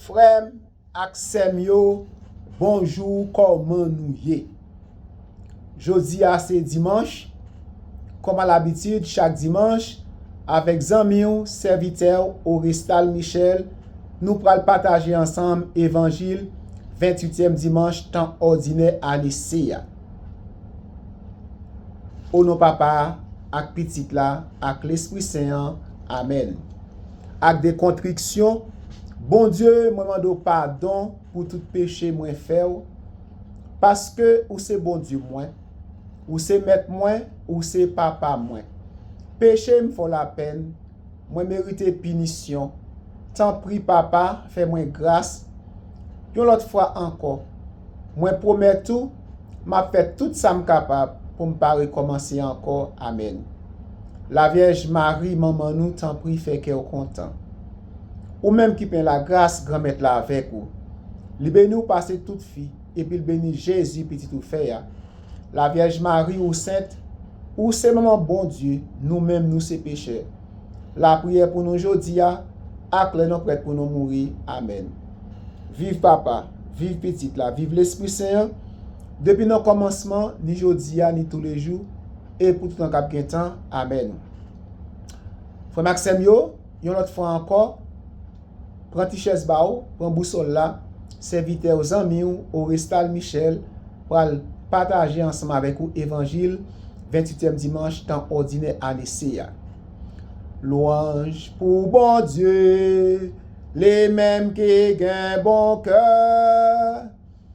Frèm ak sèm yo bonjou kòman nou ye Jodi a se dimanch kòm a labitid chak dimanch avèk zanmiw sèvitèw Orestal Michel nou pral pataje ansanm evanjil 28 tièm dimanch tan òdinè ane C a O non papa a ak pitit la ak lespri sen an amèn. ak de kontriksyon, Bondye, mwen mande w padon pou tout peche mwen fè w, paske ou se Bondye mwen, ou se mèt mwen, ou se papa mwen. Peche m fò lapèn, mwen merite pinisyon, tanpri papa fè mwen gras, Yon lòt fwa ankò, mwen pwomèt ou, m ap fè tout sa m kapab pou m pa rekòmanse ankò. Amèn. Lavyèj Mari, manman nou, tanpri fè kè w kontan. Ou menm ki plen lagras, Granmèt la avèk ou. Li beni w pase tout fi, epi l beni Jezi, pitit ou fè a. La vyèj Mari ou sent, ou se manman Bondye, nou menm nou se pechè. Lapriyè pou nou jodia ak lè nou prèt pou nou mouri. Amèn. Viv Papa, viv Pitit la, viv Lespri Sen an, depi nan kòmansman, ni jodia, ni toulejou, e pou toutan k ap gen tan. Amèn. Frè m ak sè m yo, yon lòt fwa ankò, Pran ti chèz ba ou, pran bousòl la, sèvitè ou, zanmi ou, Orestal Michel, pral pataje ansanm avèk ou Evanjil ventuityèm dimanch tan òdinè ane C a. Lwanj pou Bondye, li menm ki gen bon kè.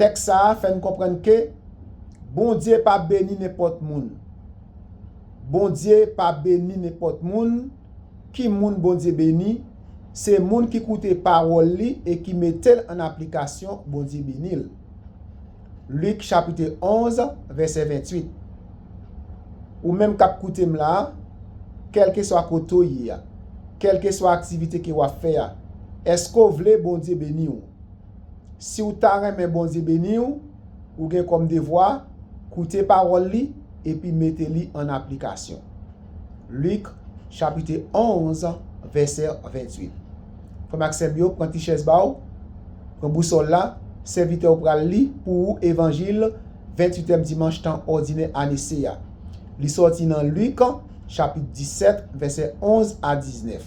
Tèks sa a fè n konprann ke Bondye pa beni nenpòt moun. Bondye pa beni nenpòt moun. Ki moun Bondye beni? Se moun ki koute pawòl li e ki mete l an aplikasyon, Bondye beni l. Lik chapitè 11 vèsè 28 Ou menm k ap koute m la a, kèlkeswa kote w ye a, kèlkeswa aktivite ke w ap fè a, èske w vle Bondye beni w? Siw ta renmen Bondye beniw, ou gen kòm devwa, koute pawòl li epi mete li an aplikasyon. Luc chapitè 11 vèsè 28. Frèm ak sèm yo, pran ti chèz ba ou, pran bousòl la, sèvitè ou pral li pou ou evanjil 28 èm dimanch tan òdinè ane C a. Li sòti nan Luc chapit 17 vèsè 11 a 19.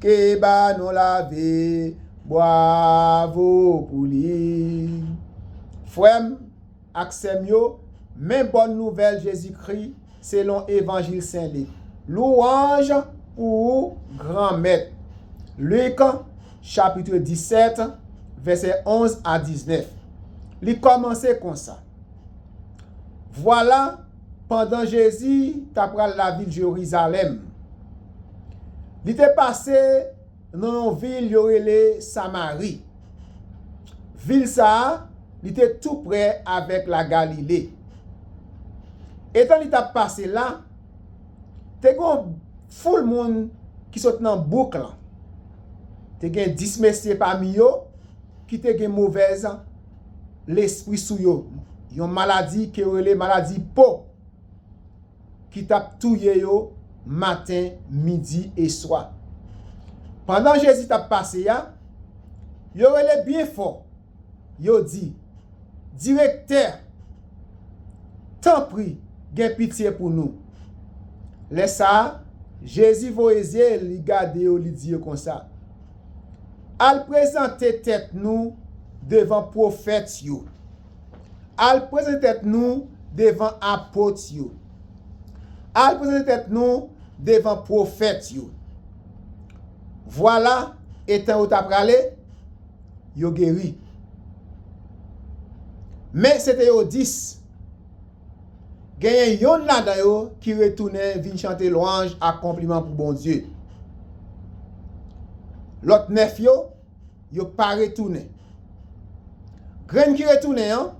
ke ba nou lave bwavo pou li. Frè m ak sè m yo, men bòn nouvèl Jezikri selon Evanjil Sen Lik. Louwanj pou ou, Granmèt! Lik, chapitre 17, vèsè 11 a 19, li kòmanse konsa, Vwala! Pandan Jezi t apral lavil Jerizalèm, li te pase nan yon vil yo rele Samari. Vil sa a, li te toupre avèk Lagalile. Etan li t ap pase la, te gen yon foul moun ki sot nan bouk lan. Te gen dis mesye pami yo ki te gen movèz lespri sou yo, yon maladi ke yo rele maladi po ki t ap touye yo maten, midi e swa. Pandan Jezi t ap pase a, yo rele byen fò, yo di, Direktè, tanpri, gen pitye pou nou! Lè sa a, Jezi voye zye li gade yo, li di yo konsa. Al prezante tèt nou devan pwofèt yo. Al prezante tèt nou devan apot yo. Al prezante tèt nou devan pwofèt yo. Vwala, etan yo t aprale, yo geri. Men, se te yo dis. Genyen yonn ladan yo ki retounen vin chante lwanj ak konpliman pou Bondye. Lòt nèf yo, yo pa retounen. Grenn ki retounen an,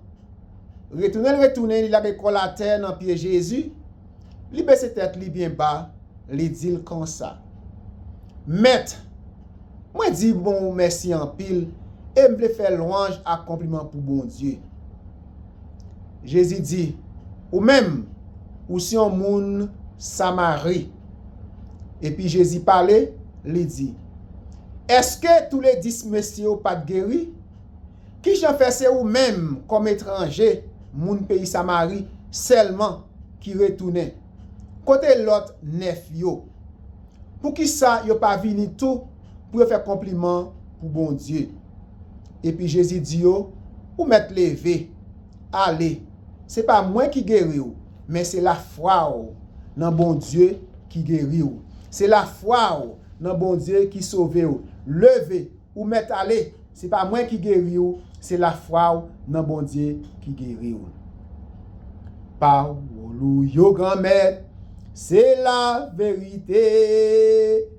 retounen l retounen, li lage kò l atè nan pye Jezi, li bese tèt li byen ba, li di l konsa, Mèt, mwen di bon ou mèsi anpil e m vle fè lwanj ak konpliman pou Bondye. Jezi di, Ou menm, ou se yon moun Samari. Epi Jezi pale, li di, Èske toule dis mesye yo pa t geri? Ki jan fè se ou menm, kòm etranje, moun peyi Samari, sèlman ki retounen? Kote lòt nèf yo? Poukisa yo pa vini tou pou yo fè konpliman pou Bondye? Epi Jezi di yo, Ou mèt leve, ale. Se pa mwen ki geri ou, men se lafwa ou nan Bondye ki geri ou. Se lafwa ou nan Bondye ki sove ou. Leve, ou mèt ale. Se pa mwen ki geri ou, se lafwa ou nan Bondye ki geri ou. Pawòl ou yo, Granmèt, se laverite.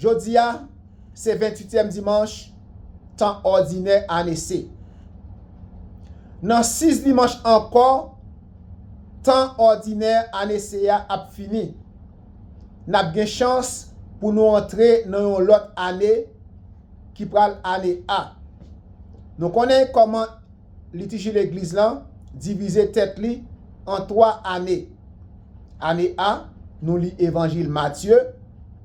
Jodi a, se ventuityèm dimanch tan òdinè ane se. Nan sis dimanch ankò, tan òdinè ane se a ap fini. N ap gen chans pou nou antre nan yon lòt ane ki pral ane A. Nou konnen kòman. Litiji Legliz lan divize tèt li an twa ane. Ane A, Nou li Evanjil Matye,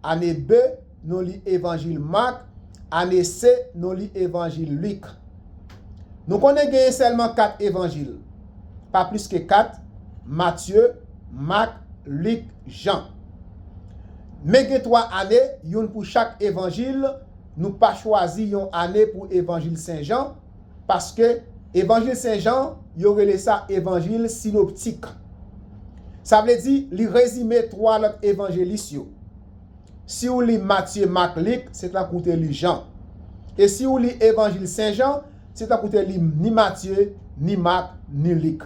Ane B, Nou li Evanjil Mak, Ane C, Nou li Evanjil Lik. Nou konnen genyen sèlman kat Evanjil, pa plis ke kat, Matye, Mak, Lik, Jan. Men gen twa ane, youn pou chak Evanjil, nou pa chwazi yon ane pou Evanjil Sen Jan, Paske, Evanjil Sen Jan, yo rele sa Evanjil Sinoptik. Sa vle di, li rezime twa lòt Evanjelis yo. Si ou li Matye, Mak, Lik, se tankou ou te li Jan. E si ou li Evanjil Sen Jan, se tankou ou te li ni Matye, ni Mak, ni Lik.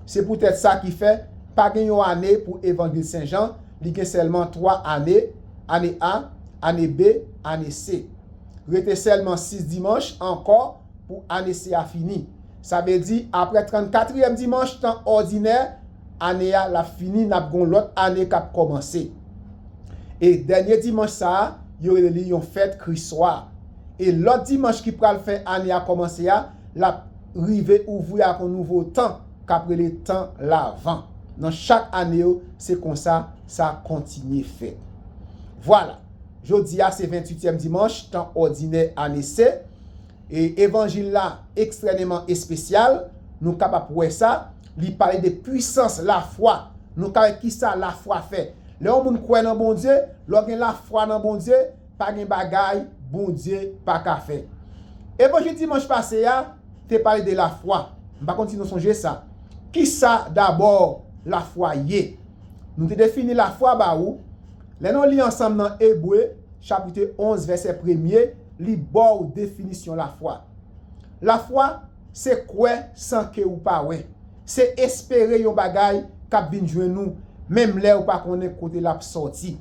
Se poutèt sa ki fè, pa gen yon ane pou Evanjil Sen Jan, li gen sèlman twa ane, Ane A, Ane B, Ane C. Rete sèlman sis dimanch ankò pou ane se a fini. Sa vle di aprè trannkatriyèm dimanch tan òdinè ane a l ap fini n ap gen yon lòt ane k ap kòmanse. E dènye dimanch sa a, yo rele li yon fèt Kriswa. E lòt dimanch ki pral fè ane a kòmanse a, l ap rive ouvri ak yon nouvo tan k ap rele tan Lavan. Nan chak ane yo, se konsa sa kontinye fèt. Vwala! Jodi a se ventuityèm dimanch tan òdinè ane se, e evanjil la ekstrèneman espesyal, nou kab ap wè sa, li pale de pwisans lafwa, nou ka wè kisa lafwa fè. Lè yon moun kwè nan Bondye, lè w gen lafwa nan Bondye, pa gen bagay Bondye pa ka fè. Evanjil dimanch pase a te pale de lafwa, m pa konn si nou sonje sa. Kisa dabò lafwa ye? Nou te defini lafwa ba ou, Lè nou li ansanm nan Ebre, chapitre 11 vèsè premye, li ba w definisyon lafwa. Lafwa, se kwè san ke ou pa wè. Se espere yon bagay k ap vin jwenn ou, menm lè ou pa konnen kote l ap sòti.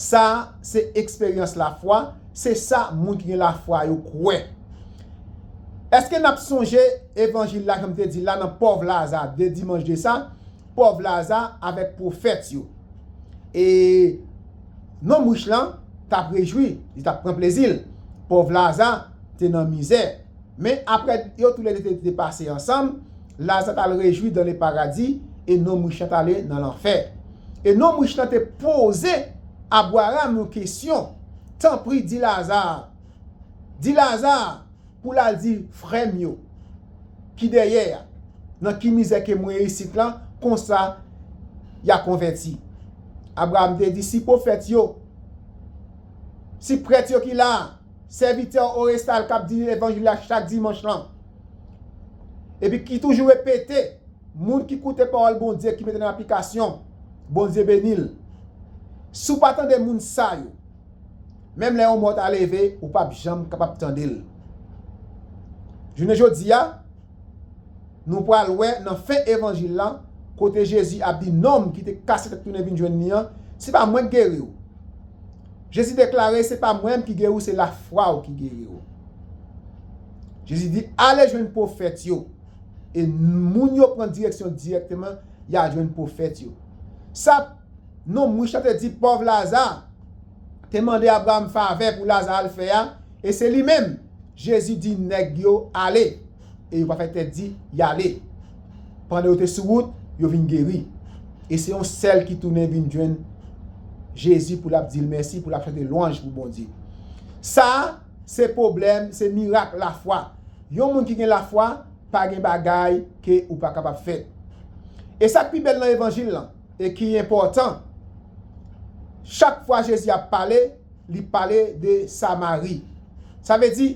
Sa, se eksperyans lafwa, se sa moun ki gen lafwa yo kwè. Eske n ap sonje evanjil la, jan m te di l la, nan pòv Laza, 2 dimanch de sa, pòv Laza avèk pwofèt yo. E, nonm rich lan t ap rejwi, li t ap pran plezi l. Pòv Laza te nan mizè. Men, apre yo toule de te pase ansanm, Laza t al rejwi dan leparadi e nonm rich lan t ale nan lanfè. E nonm rich lan te poze Abwaram yon kesyon, Tanpri, di Laza, di Laza, Pou la di frèm yo ki dèyè ya nan ki mizè ke mwen isit lan konsa ya konvèti Abraham te di si pwofèt yo si prèt yo ki la sèvitè Orestal kap di levanjil la chak dimanch lan epi ki toujou repete moun ki koute pawòl Bondye ki mete nan aplikasyon Bondye benil si w pa tande moun sa yo. Menm lè yon mò ta leve, ou p ap janm kapab tande l. Jounen jodi a, nou pral wè nan fen evanjil la, kote Jezi ap di nonm ki te kase tèt tounen vin jwenn li an, Se pa mwen k geri w. Jezi deklare, Se pa mwen menm ki geri w, se lafwa w ki geri w. Jezi di, Ale jwenn pwofèt yo. E moun yo pran direksyon dirèkteman, y al jwenn pwofèt yo. Sa. Non m Richard te di pòv Laza te mande Abraram favè pou Laza al fè a e se li menm Jezi di nèg yo ale e yo pa fè tèt di y ale pandan yo te sou wout yo vin geri e se yon sèl ki tounen vin jwenn Jezi pou l ap di l mèsi pou l ap chante lwanj pou Bondye sa se pwoblèm se mirak lafwa yon moun ki gen lafwa pa gen bagay ke ou pa kapab fè e sa k pi bèl nan evanjil lan. e ki enpòtan, chak fwa Jezi ap pale, li pale de Samari. Sa vle di,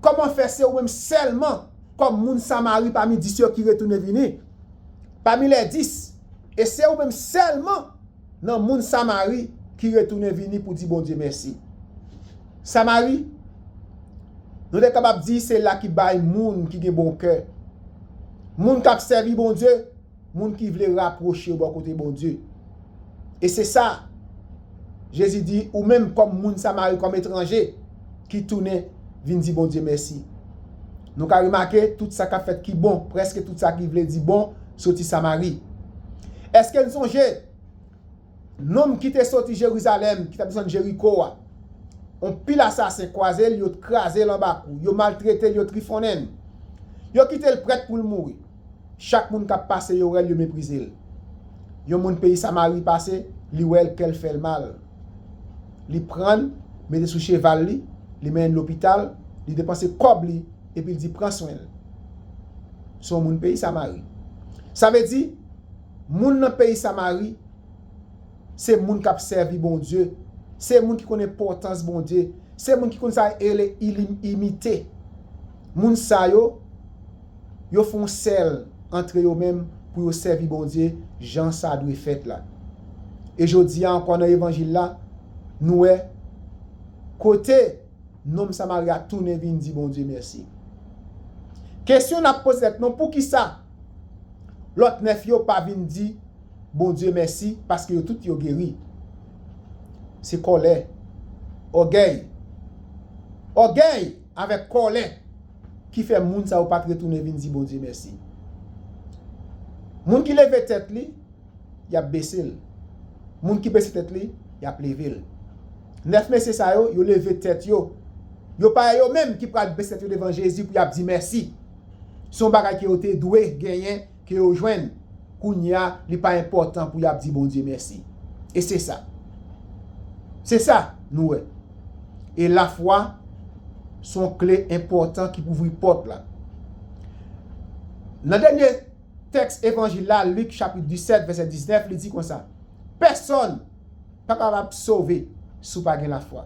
kòman fè se ou menm sèlman, kòm moun Samari pami dis yo ki retounen vini, pami lè dis, e se ou menm sèlman nan moun Samari ki retounen vini pou di Bondye mèsi? Samari, nou te kapab di se la ki bay moun ki gen bon kè, moun k ap sèvi Bondye, Moun ki vle rapwoche yo bò kote Bondye. E se sa Jezi di, Ou menm, kòm moun Samari, kòm etranje ki tounen vin di Bondye mèsi. Nou ka remake tout sa k ap fèt ki bon, prèske tout sa ki vle di bon, soti Samari. Èske n sonje? Nonm ki te soti Jerizalèm, ki t ap desann Jeriko a, yon pil asasen kwaze l, yo kraze l anba kou, yo maltrete l, yo trifonnen l. Yo kite l prèt pou l mouri. Chak moun k ap pase, yo wè l, yo meprize l. Yon moun peyi Samari pase, li wè l, kè l fè l mal. Li pran l, mete sou cheval li, li mennen l lopital, li depanse kòb li, epi l di, 'Pran swen l. Se yon moun peyi Samari. Sa vle di. Moun nan peyi Samari se moun k ap sèvi Bondye, se moun ki konn enpòtans Bondye, se moun ki konn sa e rele imite. Moun sa yo, yo fè yon sèl antre yo menm pou yo sèvi Bondye jan sa dwe fèt la. E jodi a ankò nan Evanjil la, nou wè kote nonm Samari a tounen vin di Bondye mèsi. Kesyon n ap poze tèt nou, poukisa? Lòt 9 yo pa vin di Bondye mèsi paske yo tout yo geri. Se kòlè. Ògèy. Ògèy avèk kòlè ki fè moun sa yo pa t retounen vin di Bondye mèsi. Moun ki leve tèt li, y ap bese l. Moun ki bese tèt li, y ap leve l. 9 mesye sa yo, yo leve tèt yo. Yo pa yo menm ki pral bese tèt yo devan Jezi pou y ap di mèsi. Se yon bagay ke yo te dwe genyen, ke yo jwenn. Kounye a, li pa enpòtan pou y ap di Bondye mèsi. E se sa. Se sa, nou wè. E lafwa se yon kle enpòtan ki pou ouvri pòt la. Nan dènye tèks Evanjil la, Lik chapit 17, vèsè 19, li di konsa, Pèsòn. Pa kapab sove si w pa gen lafwa.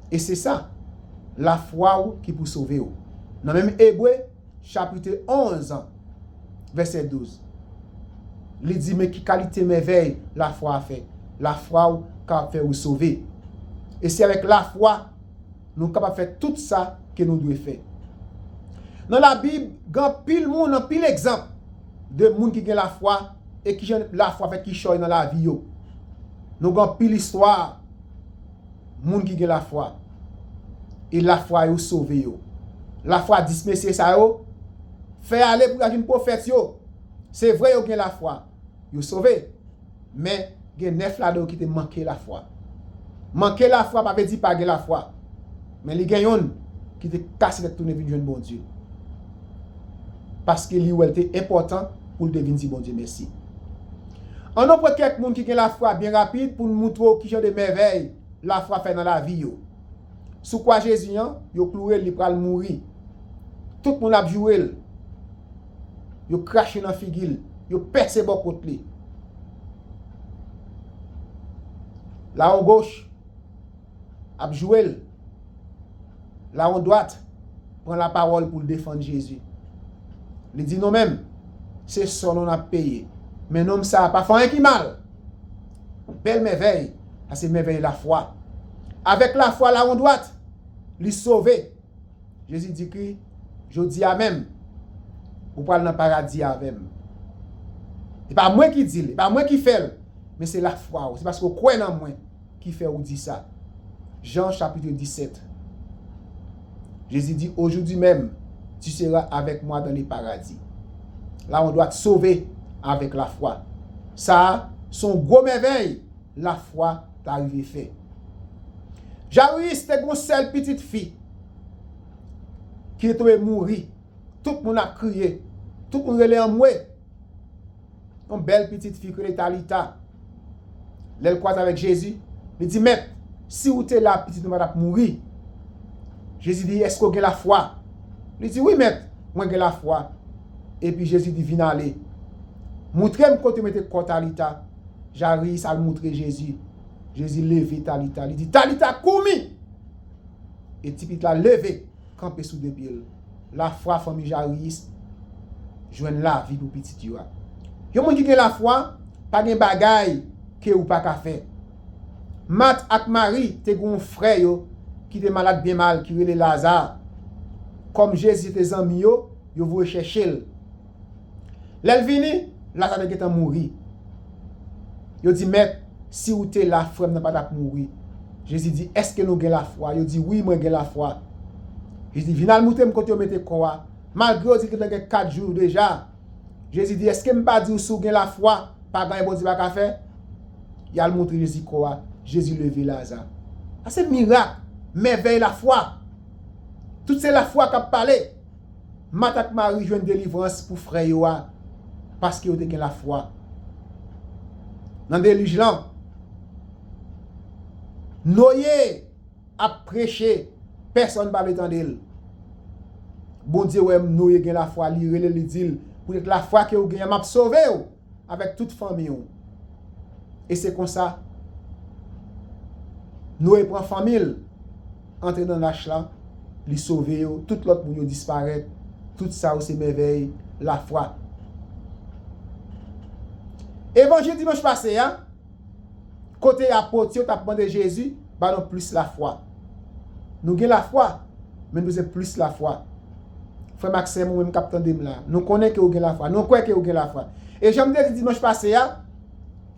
E se sa, lafwa w ki pou sove w. Nan menm Ebre, chapitre 11 an, vèsè 12, li di men ki kalite mèvèy lafwa a fè, Lafwa w kapab fè ou sove. E se avèk lafwa nou kapab fè tout sa ke nou dwe fè. Nan Labib, gen anpil moun, anpil egzanp. de moun ki gen lafwa e kijan lafwa fè kichòy nan lavi yo. Nou gen anpil istwa moun ki gen lafwa e lafwa yo sove yo. Lafwa 10 mesye sa yo fè ale pou y al vin pwofèt yo. Se vre yo gen lafwa, yo sove. Men, gen nèf ladan yo ki te manke lafwa. Manke lafwa pa vle di pa gen lafwa, men li gen yonn ki te kase tèt tounen vin jwenn Bondye, paske li wè l te enpòtan pou l te vin di Bondye mèsi. Annou pran kèk moun ki gen lafwa byen rapid pou n moutre w kijan de mèvèy lafwa fè nan lavi yo. Sou kwa Jezi an, yo kloure l, li pral mouri. Tout moun ap joure l. Yo krache nan figi l. Yo pèse bò kot li. Lawon goch ap joure l. Lawon dwat pran lapawòl pou l defann Jezi. Li di nou menm, se sò nou n ap peye. Men nonm sa a pa fè anyen ki mal. Bèl mèvèy, sa se mèvèy lafwa. Avèk lafwa lawon dwat, li sove. Jezi di Ky, Jodi a menm, ou pral nan Paradi a avè m. E pa mwen ki di l, e pa mwen ki fè l, men se lafwa ou, se paske ou kwè nan mwen ki fè ou di sa. Jan chapitre 17 Jezi di, Aujourd'hui même, tu seras avec moi dans le Paradis. La on dwa t sove avèk lafwa. Sa a, s on gwo mèvèy! lafwa ta rive fè. Jaryis te gen yon sèl pitit fi ki te dwe mouri. Tout moun ap kriye, tout moun rele anmwe. Yon bèl pitit fi ki rele Talita, lè l kwaze avèk Jezi, li di, Mèt, si ou te la, pitit mwen pa t ap mouri. Jezi di, Èske ou gen lafwa? Li di, Wi, Mèt, mwen gen lafwa. Epi Jezi di, Vin ale. Moutre m kote ou mete kò Talita. Jairus al moutre Jezi. Jezi leve Talita, li di, Talita koumi! E tipit la leve, kanpe sou de pye l. Lafwa fanmi Jairus jwenn lavi pou pitit yo a. Yon moun ki gen lafwa, pa gen bagay ke ou pa ka fè. Mat ak Mari te gen yon frè yo ki te malad byen mal ki rele Laza. Kòm Jezi se te zanmi yo, yo voye chèche l. Lè l vini, Laza te gentan mouri. Yo di, Mèt, si ou te la, frè m nan pa t ap mouri. Jezi di, Èske nou gen lafwa? Yo di, Wi, mwen gen lafwa. Jezi di, Vin al moute m kote yo mete kò a. Malgre yo di l gentan gen kat jou deja, Jezi di, Èske m pa di ou si w gen lafwa, pa gen anyen Bondye pa ka fè? Y al montre Jezi kò a. Jezi leve Laza. Sa se mirak, mèvèy lafwa. Tout se lafwa k ap pale. Mat ak Mari jwenn delivrans pou frè yo a paske yo te gen lafwa. Nan delij lan, Noye ap preche, pèsonn pa vle tande l. Bondye wè Noye gen lafwa, li rele l, li di l, Poutèt lafwa ke ou gen an, m ap sove ou. Avèk tout fanmi ou. E se konsa, Noye pran fanmi l, antre nan lach la, li sove yo, tout lòt moun yo disparèt, tout sa yo se mèvèy lafwa. Evanjil dimanch pase a. Kote apot yo t ap mande Jezi ba nou plis lafwa? Nou gen lafwa, men nou bezwen plis lafwa. Frè m ak sè m, ou menm k ap tande m la, nou konnen ke ou gen lafwa. Nou kwè ke ou gen lafwa. E jan m te di dimanch pase a,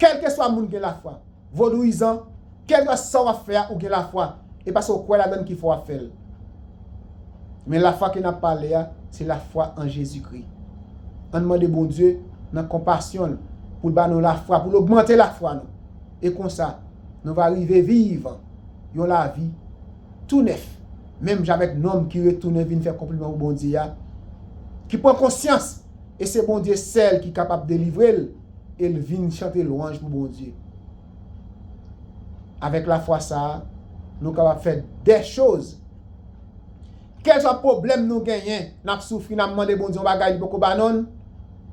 kèlkeswa moun gen lafwa. Vodouyizan, kèlkeswa sa w ap fè a, ou gen lafwa. E paske ou kwè ladan l ki fè w ap fè l. Men lafwa ke n ap pale a, se lafwa an Jezikri. Ann mande Bondye, nan konpasyon l, pou l ba nou lafwa, pou l ogmante lafwa nou. E konsa, nou va rive viv yon lavi tou nèf, menm jan avèk nonm ki retounen vin fè konpliman pou Bondye a, ki pran konsyans e se Bondye sèl ki kapab delivre l, e l vin chante lwanj pou Bondye. Avèk lafwa sa a, nou kapab fè de choz. Kèlswa pwoblèm nou genyen, n ap soufri, n ap mande Bondye yon bagay li poko ba non,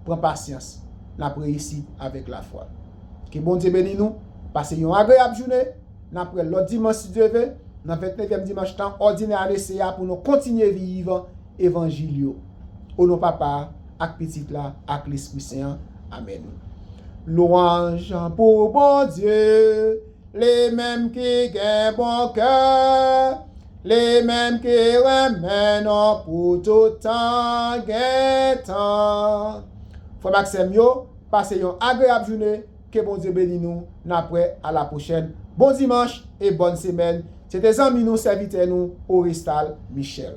pran pasyans, n ap reyisi avèk lafwa. Ke Bondye beni nou, pase yon agreyab joune, n ap wè lòt dimanch si Dye ve, nan ventnevyèm dimanch tan òdinè ane se a pou nou kontinye viv evanjil yo. O non Papa a, ak Pitit la, ak Lespri Sen an. Amèn. Lwanj pou Bondye, li menm ki gen bon kè, li menm ki renmen nou pou tout tan gen tan. Frè m ak sè m yo, pase yon agreyab joune, ke Bondye beni nou, n ap wè a la pwochèn. Bon dimanch e bòn semèn. Se te zanmi nou, sèvitè nou, Orestal Michel.